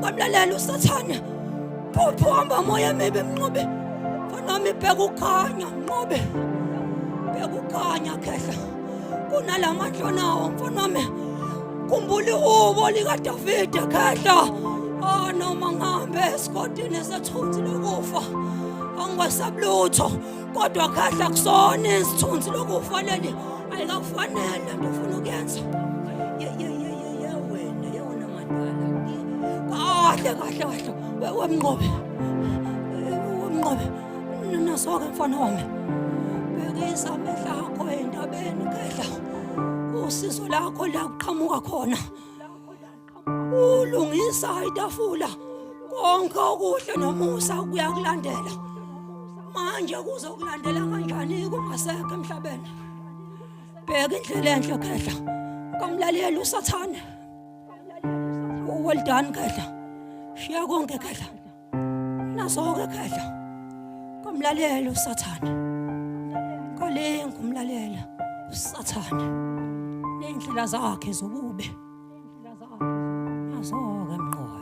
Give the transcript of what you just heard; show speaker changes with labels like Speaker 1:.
Speaker 1: Ngamlalela usathane. Phuphu hamba moya maybe mnqobe. Fanami bheka ukhanya mnqobe. Bheka ukhanya khehla. Kunalamandla nawo mfanami. Kumbuli ubo lika David khehla. Oh noma ngihambe esigodini sethunzi lokufa. Angwasabulutho. kodwa khahla kusona isithunzi lokufanele ayikakufanele nto ufuna ukuyenza yewena yewona madala kahle kahle kahle wemnqobe wemnqobe nasoke mfana wami bhekisa amehla akho endabeni khehla usizo lakho la kuqhamuka khona ulungisa itafula konke okuhle nomusa kuyakulandela manje kuzokulandela kanjani kungasekho emhlabeni bheka indlela enhle khehla kamlaleli usathane well done khehla shiya konke khehla Nasoke khehla. Komlalela uSathane. Kolenga umlalela uSathane. Nendlela zakhe zobube. Nendlela zakhe. Nasoke mnqobe.